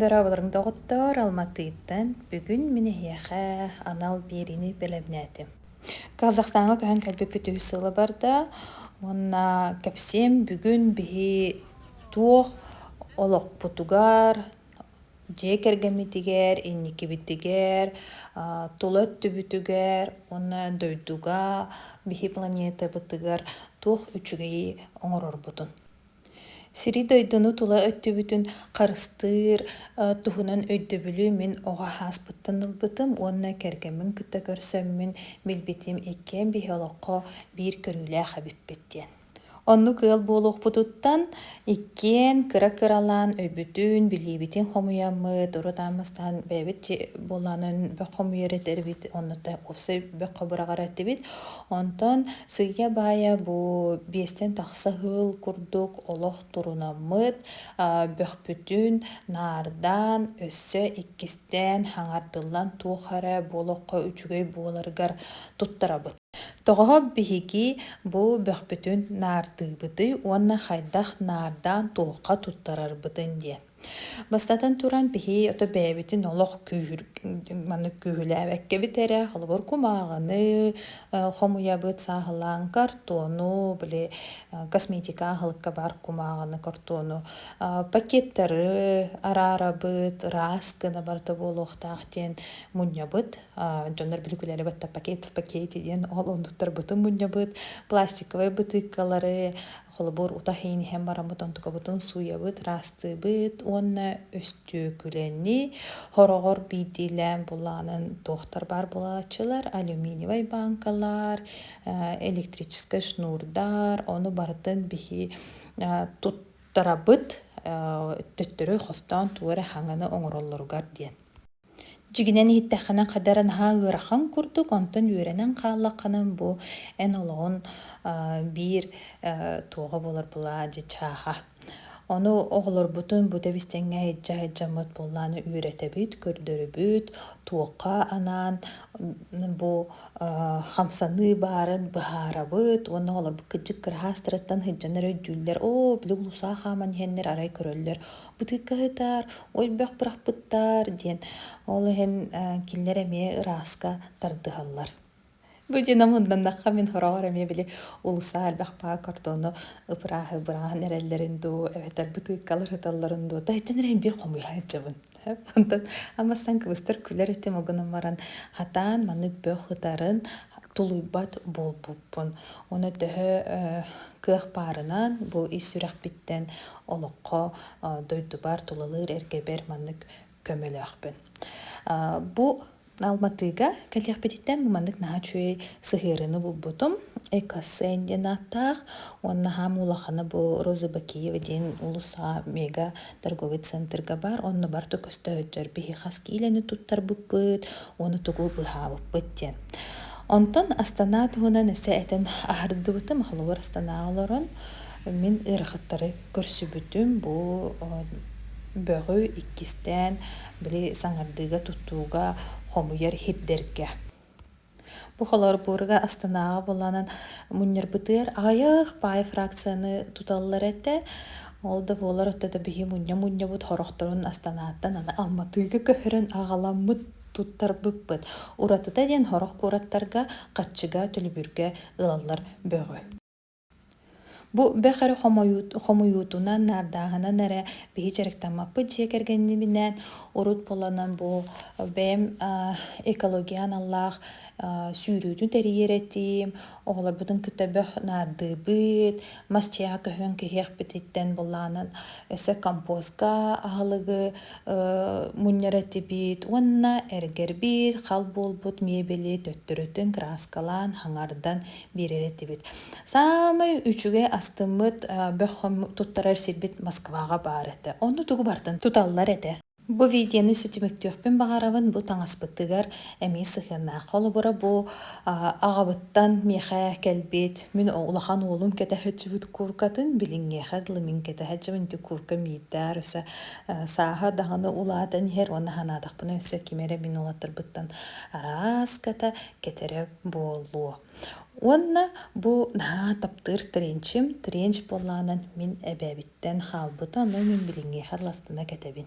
Дорооболоруҥ доҕоттоор, Алматыттан бүгүн мин эһиэхэ анал биэриини бэлэмнээтим. Казахстаҥҥа көһөн кэлбиппит үһүс сыла барда. Уонна кэпсиэм бүгүн биһи туох олохпутугар, дьиэ кэргэммитигэр, инникибитигэр, тула өттүбүтүгэр уонна дойдуга, биһи планетабытыгар туох үчүгэйи оҥорорбутун. сири-дойдуну тула өттүбүтүн харыстыыр туһунан өйдөбүлү мин оҕо ааспыттан ылбытым уонна кэргэммин кытта көрсөммүн билбитим иккиэн биһи олоххо биир көрүүлээх эбиппит диэн оннук ыал буолуохпутуттан иккиэн кыра-кыралаан өйбүтүн билиибитин хомуйаммыт урут ааммастаан бэйэбит буолаанын бөх хомуйар этэрбит оннута уопсай бөх быраҕар этибит Онтон сыыйа-баайа бу биэстэн тахса ыһыл курдук олох турунаммыт, бөхпүтүн наардаан, өссө иккистээн хаҥардыллан туох эрэ буолуохха үчүгэй буоларыгар туттарабыт. Тоҕоһо биһиги бу бөхпүтүн наардыыбытый уонна хайдах наардаан туохха туттарарбытын диэн. Бастатан туран, биһи ото бэйэбитин олох күүһүр маннык күүһүлээбэккэбит эрэ, холобур, кумааҕыны э, хомуйабыт, сааһылаан картону, били э, косметика аһылыкка баар кумааҕыны, картону, э, пакеттары араарабыт, ыраас гына барыта буолуохтаах диэн мунньабыт. Дьоннор билигилэри батта пакет в пакете диэн ол оннуктарбытын мунньабыт, пластиковай бытыыкалары, Холобур, утах иин иһэн бараммыт онтукабытын сууйабыт, ыраастыыбыт уонна өстүөкүлэни хороҕор биирдиилээн булаанын туохтар баар буолааччылар алюминиевай бааҥкалар, электрическай шнурдар, ону барытын биһи туттарабыт, төттөрү хостоон тугу эрэ хаҥаны оҥороллоругар диэн. Дьигинэн иһиттэххинэ хата эрэ наһаа ыарахан курдук, онтон үөрэнэн хааллаххына бу эн олоҕун биир туоҕа буолар былаа дьи чааһа. Ону оҕолорбутун бута истэҥҥэ иһитдьэ-аһыддьаммыт буоллааны үөрэтэбит, көрдөрөбүт, туохха анаан бу хамсаныы баарын быһаарабыт уонна оҕолорбут кырдьык кыраһаастарыттан сылдьан эрэ өйдүүллэр, оо, били улуусаҕа хааман иһэннэр арай көрөллөр ытыыкка ыһытаар, ой бөх бырахпыттаар диэн. Ол иһин кинилэр эмиэ ырааска тардыһаллар. Бу дьиэ мунданнахха мин хороҕор эмиэ били улуса элбэх паа картону ыпырааһы бырааһын эрэллэрин дуу, эбэтэр бытыыккалар ыталларын дуу, таһыччан эрэ биир хомуйа сылдьабын. Онтон амастан кыбыстар күлэр этим огунан баран хатаан маны бөх ытарын тулуйбат буолбуппун. Оны төһө кыах баарынан бу ис сүрэхпиттэн олоххо дойдубар тулалыыр эргэбэр маннык көмөлөөхпүн. Бу Алматыга кэлиэхпититтэн бу маннык наһаа үчүгэй сыһыарыыны булбутум. Экоссен диэн ааттаах уонна хаһан улахана бу Роза Бакиева диэн улуусаҕа мега торговый центрга баар онно барыта көстөөччөр биһи хас киилэни туттарбыппыт уону тугу быһаабыппыт диэн. Онтон Астана туһунан өссө этэн аһардыбытым, холобур Астанаҕа олорон Мин ыарахаттары көрсүбүтүм бу бөҕү иккистээн били саҥардыыга тутууга хомуйар сирдэргэ. Бу холобурга Астанаҕа буоланан мунньарбытыгар аҕыйах баай фракцияны туталлар этэ. Ол да буоллар отто да биһи мунньа-мунньабыт сорохторун Астанааттан аны Алматыга көһөрөн аҕаламмыт туттарбыппыт. Уратыта диэн сорох куораттарга Хаччыга, Төлөбүргэ ылаллар бөҕү. Бу бэх эрэ хомуйуутунан, наардааһынан эрэ биһи дьарыктаммаппыт дьиэ кэргэннибинээн урут буоланан бу бэйэм экология аналлаах сүүрүүнү тэрийэр этиим, оҕолорбутун кытта бөх наардыыбыт, мас дьиэҕэ көһөн кэһиэхпититтэн былаанын өссө компоска аһылыгы мунньар этибит уонна эргэрбит, хал буолбут миэбэли төттөрүтүн краскалаан, хаҥардан биэрэр этибит. Саамай үчүгэй астыммыт бөххөм туттарар сирбит Москваҕа баар этэ. Ону тугу бартын туталлар этэ. Бу видеоны ситимиктиэхпин баҕарабын. Бу таҥаспытыгар эмиэ сыһыаннаах. Холобура, бу аҕабыттан миэхэ кэлбит, мин улахан уолум кэтэһэ сытчыбыт кууркатын, билиҥҥиэхэ дылы мин кэтэһэ сытчыбын, ити куурка миирдээр өссө сааһа даҕаны улаатан иһэр. Уонна санаатахпына өссө ким эрэ мин уолаттарбыттан арааската кэтэрэ буолуо. Уонна бу наһаа таптыыр тренчим. Тренч буолаанан мин эбээбиттэн хаалбыта, ону мин билиҥҥиэхэ ластана кэтэбин.